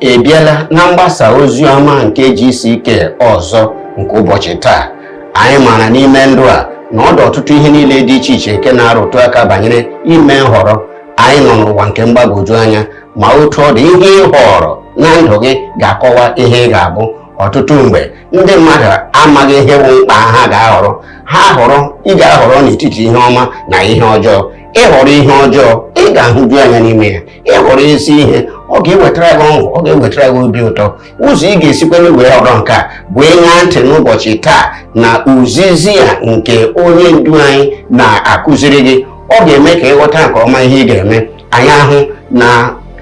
ị bịala na mgbasa ozi ọma nke GCK ọzọ nke ụbọchị taa anyị maara n'ime ndụ a na ọ dị ọtụtụ ihe niile dị iche iche nke na-arụtụ aka banyere ime nhọrọ anyị nọ n'ụwa nke mgbagwoju anya ma otu ọ dị ihe ị họrọ na ndụ gị ga-akọwa ihe ị ga-abụ ọtụtụ mgbe ndị mmadụ amaghị ihe bụ mkpa ha ga-ahọrọ ha họrọ ị ga-ahọrọ n'etiti ihe ọma na ihe ọjọọ ị họrọ ihe ọjọọ ị ga-ahụju anya n'ime ya ị họrọ ezi ihe ọ ga-ewetara gị ọṅụ ọ ga-ewetara gị obi ụtọ ụzọ ị ga-esikwanụ wee họrọ nke a bụ ịṅa ntị n'ụbọchị taa na ozizi a nke onye ndu anyị na-akụziri gị ọ ga-eme ka ị ghọta nke ọma ihe ị ga-eme anyị ahụ na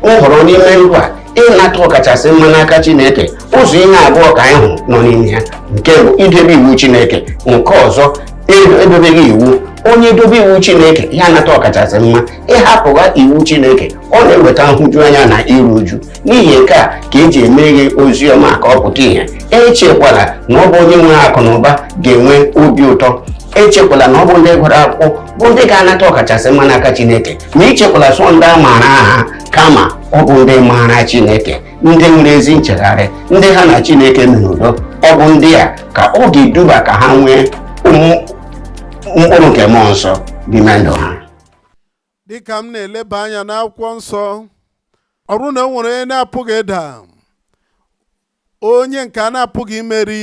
nhọrọ n'ime ndụ a ịnata ọkachasị mma n'aka chineke ụzọ ihe abụọ ka anyị hụ nọ n'ime ya nke bụ idebe iwu chineke nke ọzọ e- edobeghị iwu onye dobe iwu chineke ya anata ọkachasị mma ị hapụwa iwu chineke ọ na-eweta nhụjuanya na iru uju n'ihi nke a ka eji emeghe ozi ọma ka ọ pụta ihe echekwala na ọ bụ onye nwere akụ na ụba ga-enwe obi ụtọ echekwala na ọ bụ ndị gụrụ akwụkwọ bụ ndị ga-anata ọkachasị mma n'aka chineke ma ichekwala sọ ndị a maara aha kama ọ bụ ndị maara chineke ndị nwere ezi nchegharị ndị ha na chineke mere udo ọ bụ ndị a ka ọ ga-eduba ka ha nwee mkpụrụ nke mmụọ nsọ n'ime ndụ ha dịka m na-eleba anya n'akwụkwọ nsọ ọ bụrụ na o nwere onye na-apụghị ịda onye nke a na-apụghị imeri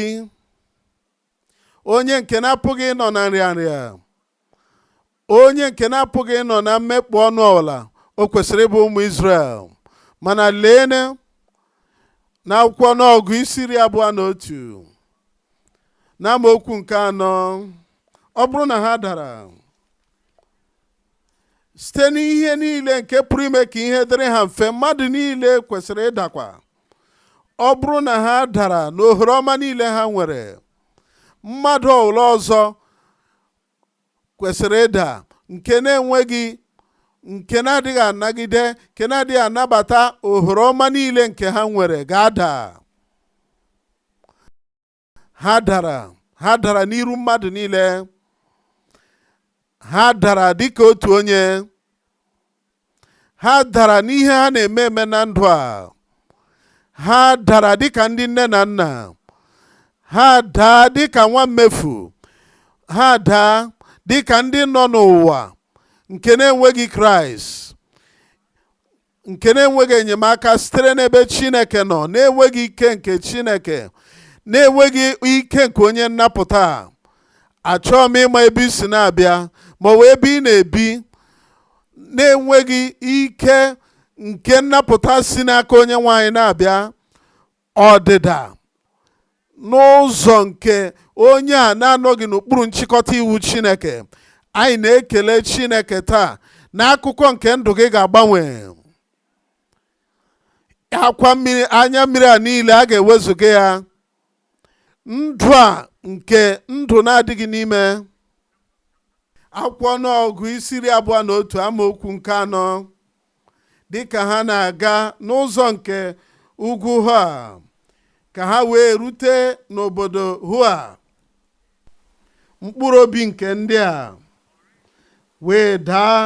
onye nke na-apụghị ịnọ na nrịanrịa onye nke na-apụghị ịnọ na mmekpọ ọnụ ọbụla o kwesịrị ịbụ ụmụ Israel mana lee na akwụkwọ ọnụọgụgụ isi iri abụọ na otu na amaokwu nke anọ ọ bụrụ na ha dara site n'ihe niile nke pụrụ ime ka ihe dịrị ha mfe mmadụ niile kwesịrị ịdakwa ọ bụrụ na ha dara n'ohere ọma niile ha nwere mmadụ ọbụla ọzọ kwesịrị ịda nke na-enweghị nke na-adịghị anagide nke na-adịghị anabata ohere ọma niile nke ha nwere ga-ada ha dara ha dara n'iru mmadụ niile ha dara dịka otu onye ha dara n'ihe ha na-eme eme na ndụ a ha dara dịka ndị nne na nna ha daa dịka nwa mmefu ha daa dịka ndị nọ n'ụwa nke na-enweghị kraịst nke na-enweghị enyemaka sitere n'ebe chineke nọ na-enweghị ike nke chineke na-enweghị ike nke onye nnapụta achọghị m ịma ebe i si na-abịa ma ọ bụ ebe ị na-ebi na-enweghị ike nke nnapụta si n'aka onye nwe anyị na-abịa ọdịda n'ụzọ nke onye a na-anọghị n'okpuru nchịkọta iwu Chineke anyị na-ekele Chineke taa na akụkọ nke ndụ gị ga-agbanwe akwa mmiri anya mmiri a niile a ga-ewezuga ya ndụ a nke ndụ na-adịghị n'ime akwụkwọ ọnụọgụ isi iri abụọ na otu amaokwu nke anọ dịka ha na-aga n'ụzọ nke ugwu hua ka ha wee rute n'obodo hua mkpụrụ obi nke ndị a wee daa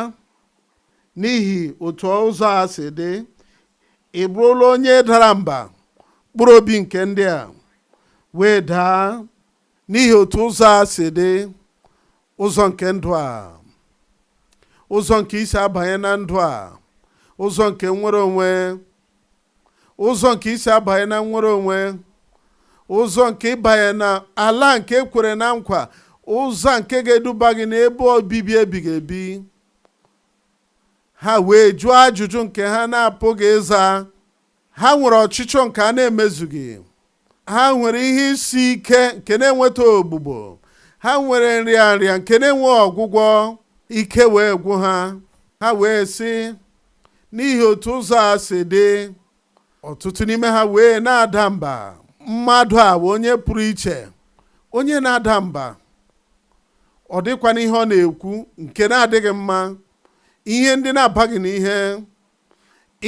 n'ihi otu ụzọ a si dị ị bụrụla onye dara mba mkpụrụ obi nke ndị a wee daa n'ihi otu ụzọ a si dị ụzọ nke ndụ a ụzọ nke isi abanye na ndụ a ụzọ nke nnwere onwe ụzọ nke isi abanye na nnwere onwe ụzọ nke ịbanye na ala nke e kwere na nkwa ụzọ nke ga-eduba gị n'ebe obibi ebighị ebi ha wee jụọ ajụjụ nke ha na-apụghị ịza ha nwere ọchịchọ nke a na-emezughị ha nwere ihe isi ike nke na-enweta ogbugbo ha nwere nrịanrịa nke na-enweghị ọgwụgwọ ike wee gwụ ha ha wee sị n'ihi otu ụzọ a si dị ọtụtụ n'ime ha wee na-ada mba mmadụ a bụ onye pụrụ iche onye na-ada mba ọ dịkwa n'ihe ọ na-ekwu nke na-adịghị mma ihe ndị na-abaghị n'ihe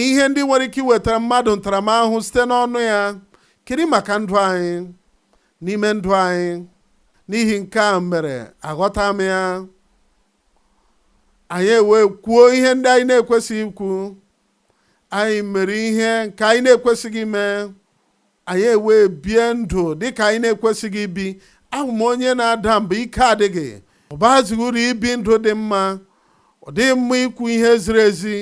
ihe ndị nwere ike iwetara mmadụ ntaramahụhụ site n'ọnụ ya kedu maka ndụ anyị n'ime ndụ anyị n'ihi nke a mere aghọta m ya anyị ewee kwuo ihe ndị anyị na-ekwesịghị ikwu anyị mere ihe nke anyị na-ekwesịghị ime Anyị ewee bie ndụ dị ka anyị na-ekwesịghị ibi. Ahụ m onye na-ada mba, ike adịghị. Ọ bazighị uru ibi ndụ dị mma. Ọ dịghị mma ikwu ihe ziri ezi.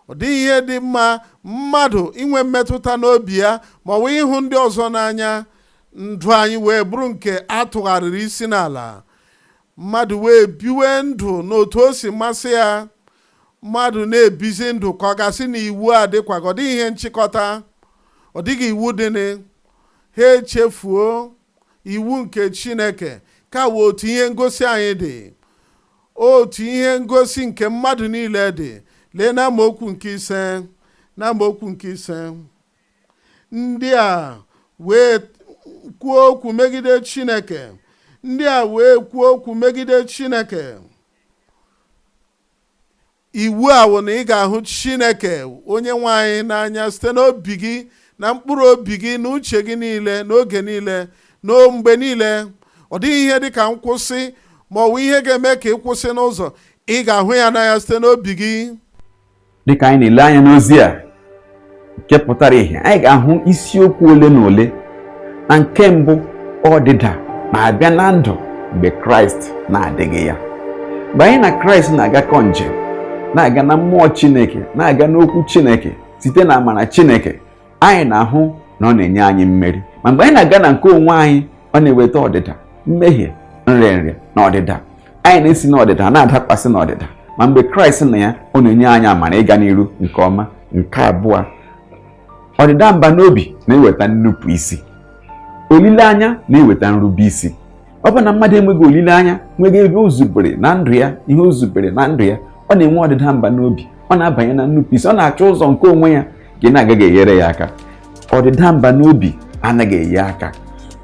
Ọ dịghị ihe dị mma mmadụ inwe mmetụta n'obi ya ma ọ bụ ịhụ ndị ọzọ n'anya. Ndụ anyị wee bụrụ nke a tụgharịrị isi n'ala. Mmadụ wee biwe ndụ n'otu o si masị ya. Mmadụ na-ebizi ndụ ka a ga-asị na iwu adịkwaghị, ọ dịghị ihe nchịkọta, ọ dịghị iwu dịnị. Ha echefuo iwu nke Chineke. Nke a wụ otu ihe ngosi anyị dị, otu ihe ngosi nke mmadụ niile dị. Lee n'amaokwu nke ise, n'amaokwu nke ise, ndị a wee kwuo okwu megide Chineke, ndị a wee kwuo okwu megide Chineke. iwu a wụ na ị ga-ahụ chineke onye nwe anyị n'anya site n'obi gị na mkpụrụ obi gị na uche gị niile n'oge niile na mgbe niile ọ dịghị ihe dị ka nkwụsị ma ọ bụ ihe ga-eme ka ị kwụsị n'ụzọ ị ga-ahụ ya n'anya site n'obi gị dịka anyị na-ele anya n'ozi a nke pụtara ihe anyị ga-ahụ isiokwu ole na ole na nke mbụ ọdịda na-abịa na ndụ mgbe kraịst na-adịghị ya mgbe anyị na kraịst na-agakọ njem na-aga na mmụọ chineke na-aga n'okwu chineke site na amara chineke anyị na-ahụ na ọ na-enye anyị mmeri ma mgbe anyị na-aga na nke onwe anyị ọ na-eweta ọdịda mmehie nrịanrịa na ọdịda anyị na-esi n'ọdịda na-adakwasị n'ọdịda ma mgbe kraịst nọ ya ọ na-enye anyị amara ịga n'iru nke ọma nke abụọ ọdịda mba n'obi na-eweta nnupụ isi olileanya na-eweta nrube isi ọ bụ na mmadụ enweghị olileanya nweghị ebe o zubere na ndụ ya ihe o zubere na ndụ ya ọ na-enwe ọdịda mba n'obi ọ na-abanye na nnupụisi ọ na-achọ ụzọ nke onwe ya nke na-agaghị enyere ya aka ọdịda mba n'obi anaghị enye aka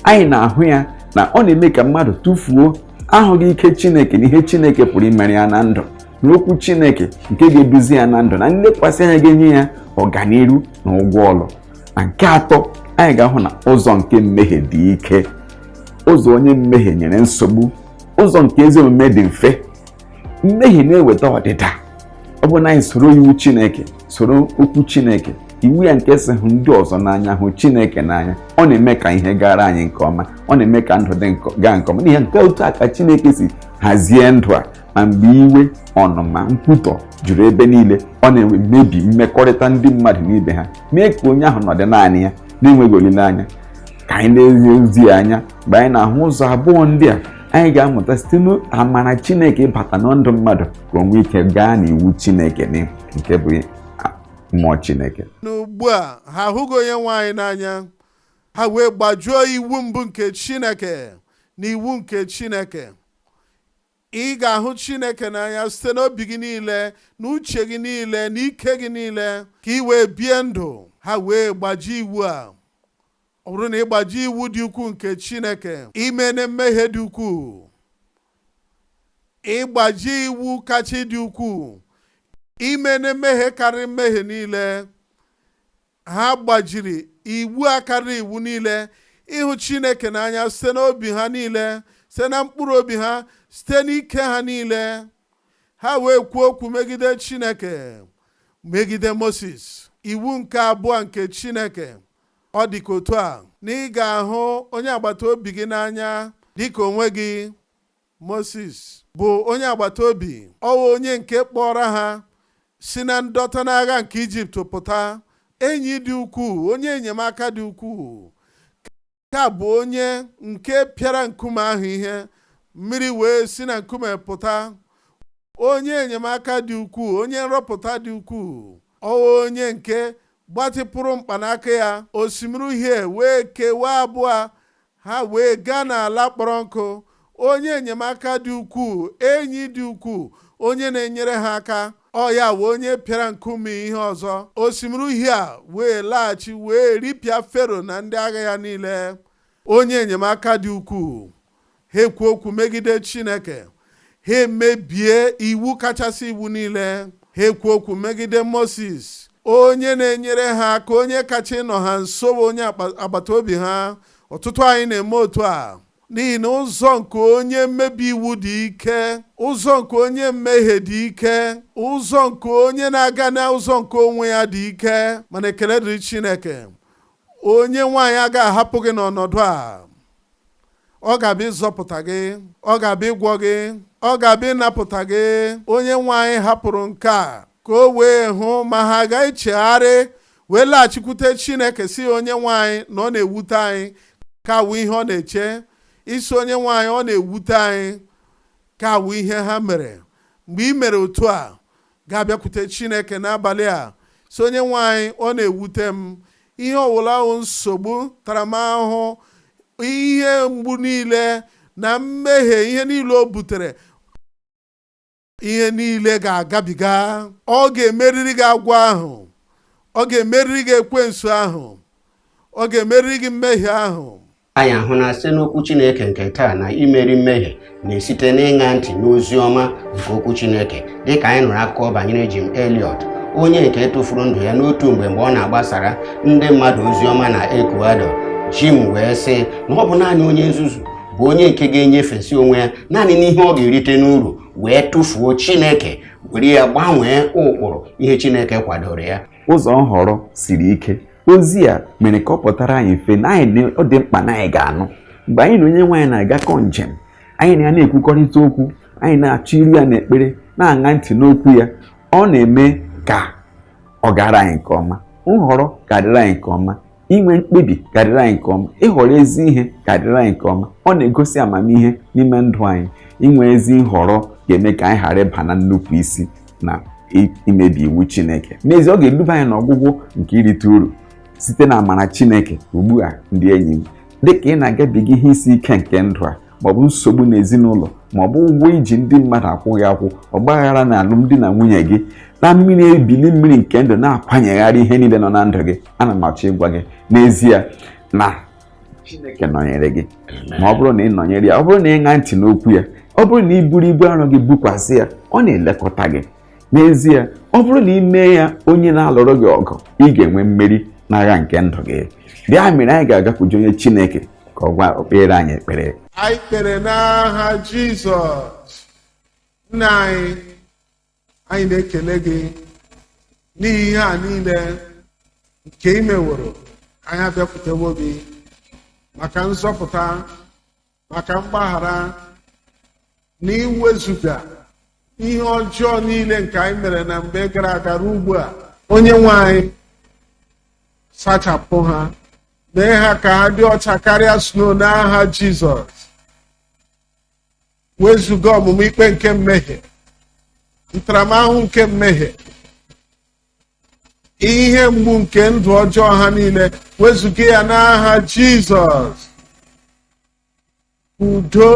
anyị na-ahụ ya na ọ na-eme ka mmadụ tufuo ahụghị ike chineke na ihe chineke pụrụ imere ya na ndụ n'okwu chineke nke ga-eduzi ya na ndụ na nlekwasị anya ga-enye ya ọganiru na ụgwọ ọlụ na nke atọ anyị ga-ahụ na ụzọ nke mmehie dị ike ụzọ onye mmehie nyere nsogbu ụzọ nke ezi omume dị mfe mmehie na-eweta ọdịda ọ bụ na anyị soro iwu Chineke soro okwu Chineke iwu ya nke sị hụ ndị ọzọ n'anya hụ chineke n'anya ọ na-eme ka ihe gaara anyị nke ọma ọ na-eme ka ndụ dị gaa nke ọma n'ihi nke otu a ka chineke si hazie ndụ a ma mgbe iwe ọnụma nkwutọ juru ebe niile ọ na-emebi mmekọrịta ndị mmadụ na ibe ha mee ka onye ahụ nọdụ naanị ya na-enweghị olileanya ka anyị na-ele ozi a anya mgbe anyị na-ahụ ụzọ abụọ ndị a anyị ga-amụta site n'amara Chineke ịbata na ndụ mmadụ ka o nwee ike gaa n'iwu Chineke nke bụ mmụọ Chineke n'ugbu a ha ahụghị onye nwe anyị n'anya ha wee gbajuo iwu mbụ nke Chineke na iwu nke Chineke Ị ga-ahụ Chineke n'anya site n'obi gị niile, n'uche gị niile, n'ike gị niile, ka ị wee bie ndụ. Ha wee gbaji iwu a. Ọ bụrụ na ị gbajie iwu dị ukwuu nke Chineke, i meene mmehie dị ukwuu, ị gbajie iwu kacha dị ukwuu, i meene mmehie karịrị mmehie niile, Ha gbajiri iwu a karịrị iwu niile ịhụ Chineke n'anya site n'obi ha niile site na mkpụrụ obi ha site n'ike ha niile ha wee kwuo okwu megide Chineke megide Moses iwu nke abụọ nke Chineke ọ dị ka otu a na ị ga-ahụ onye agbata obi gị n'anya dịka onwe gị Mosis bụ onye agbata obi ọ wụ onye nke kpọọrọ ha si na ndọta n'agha nke Ijipt pụta enyi dị ukwuu onye enyemaka dị ukwuu ka ọ bụ onye nke pịara nkume ahụ ihe mmiri wee si na nkume pụta onye enyemaka dị ukwuu onye nzọpụta dị ukwuu ọ wụ onye nke gbatịpụrụ mkpanaka ya osimiri uhie wee kewaa abụọ Ha wee gaa n'ala kpọrọ nkụ, onye enyemaka dị ukwuu, enyi dị ukwuu, onye na-enyere ha aka, ọ ya wụ onye pịara nkume ihe ọzọ. Osimiri Uhie a wee laghachi wee ripịa Fero na ndị agha ya niile. Onye enyemaka dị ukwuu. Ha ekwuo okwu megide Chineke. ha emebie iwu kachasị iwu niile ha ekwuo okwu megide Moses onye na-enyere ha aka onye kacha ịnọ ha nso onye agbata obi ha ọtụtụ anyị na-eme otu a n'ihi na ụzọ nke onye mmebi iwu dị ike ụzọ nke onye mmehie dị ike ụzọ nke onye na-aga n'ụzọ nke onwe ya dị ike mana ekele dịrị Chineke onye nwe anyị agaghị ahapụ gị n'ọnọdụ a ọ ga-abịa ịzọpụta gị ọ ga-abịa ịgwọ gị ọ ga-abịa ịnapụta gị onye nwe anyị hapụrụ nke a ka o wee hụ ma ha ga-echegharị wee laghachikwute Chineke sị onye nwe anyị na ọ na-ewute anyị nke a wụ ihe ọ na-eche ị sị onye nwe anyị ọ na-ewute anyị nke a wụ ihe ha mere mgbe i mere otu a ga-abịakwute Chineke n'abalị a sị onye nwe anyị ọ na-ewute m ihe ọwụla wụ nsogbu ntaramahụhụ ihe mgbu niile na mmehie ihe niile o butere ihe niile ga-agabiga ọ ga-emeriri gị agwọ ahụ ọ ga-emeriri gị ekwensu ahụ ọ ga-emeriri gị mmehie ahụ anyị ahụ na site n'okwu Chineke nke taa na imeri mmehie na-esite n'ịṅa ntị n'ozi ọma nke okwu Chineke dịka anyị nụrụ akụkọ banyere Jim Elliot onye nke tụfuru ndụ ya n'otu mgbe mgbe ọ na-agbasara ndị mmadụ ozi ọma na Ecuador Jim wee sị na ọ bụ naanị onye nzuzu bụ onye nke ga-enyefesi onwe ya naanị n'ihe ọ ga-erite n'uru wee tụfuo Chineke were ya gbanwee ụkpụrụ ihe Chineke kwadoro ya ụzọ nhọrọ siri ike ozi a mere ka ọ pụtara anyị mfe na anyị ọ dị mkpa na anyị ga-anụ mgbe anyị na onye nwe anyị na-agakọ njem anyị na ya na-ekwukọrịta okwu anyị na-achọ iru ya n'ekpere na-aṅa ntị n'okwu ya ọ na-eme ka ọ gara anyị nke ọma nhọrọ ga-adịrị anyị nke ọma inwe mkpebi ga-adịrị anyị nke ọma ịhọrọ ezi ihe ga-adịrị anyị nke ọma ọ na-egosi amamihe n'ime ndụ anyị inwe ezi nhọrọ ga-eme ka anyị ghara ịba na nnupụ isi na imebi iwu Chineke n'ezie ọ ga-eduba anyị n'ọgwụgwụ nke irite uru site na amara Chineke ugbu a ndị enyi m dị ka ị na-agabiga ihe isi ike nke ndụ a maọbụ nsogbu n'ezinụlọ maọbụ ụgwọ i ji ndị mmadụ akwụghị akwụ ọgbaghara na alụmdi na nwunye gị na mmiri ebili mmiri nke ndụ na-akwanyegharị ihe niile nọ na ndụ gị ana m achọ ịgwa gị n'ezie na chineke nọnyere gị ma ọ bụrụ na ị nọnyere ya ọ bụrụ na ị ṅaa ntị n'okwu ya ọ bụrụ na ị buru ibu arọ gị bukwasị ya ọ na-elekọta gị n'ezie ọ bụrụ na ị mee ya onye na-alụrụ gị ọgụ ị ga-enwe mmeri n'agha nke ndụ gị bụ ya mere anyị ga-agakwuju onye chineke ka ọ gwa o kpeere anyị ekpere anyị kpere n'aha jizọs nna anyị anyị na-ekele gị n'ihi ihe a niile nke ị meworo anyị abịakwutewo gị maka nzọpụta maka mgbaghara na iwezuga ihe ọjọọ niile nke anyị mere na mgbe gara aga ruo ugbu a onye nwe anyị sachapụ ha mee ha ka ha dị ọcha karịa snow n'aha Jizọs wezuga ọmụma ikpe nke mmehie ntaramahụhụ nke mmehie ihe mgbu nke ndụ ọjọọ ha niile wezuga ya n'aha jizọs udo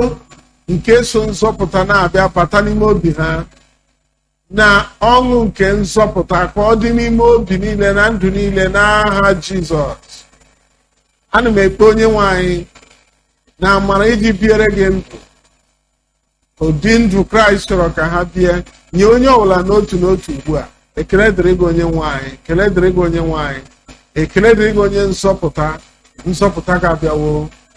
nke so nzọpụta na-abịa bata n'ime obi ha na ọṅụ nke nzọpụta ka ọ dị n'ime obi niile na ndụ niile n'aha jizọs ana m ekpe onye nwe anyị na amara iji biere gị ndụ ụdị ndụ kraịst chọrọ ka ha bie nye onye ọbụla n'otu n'otu ugbu a ekele dịrị gị onye nwe anyị ekele dịrị gị onye nwe anyị ekele dịrị gị onye nzọpụta nzọpụta gị abịawo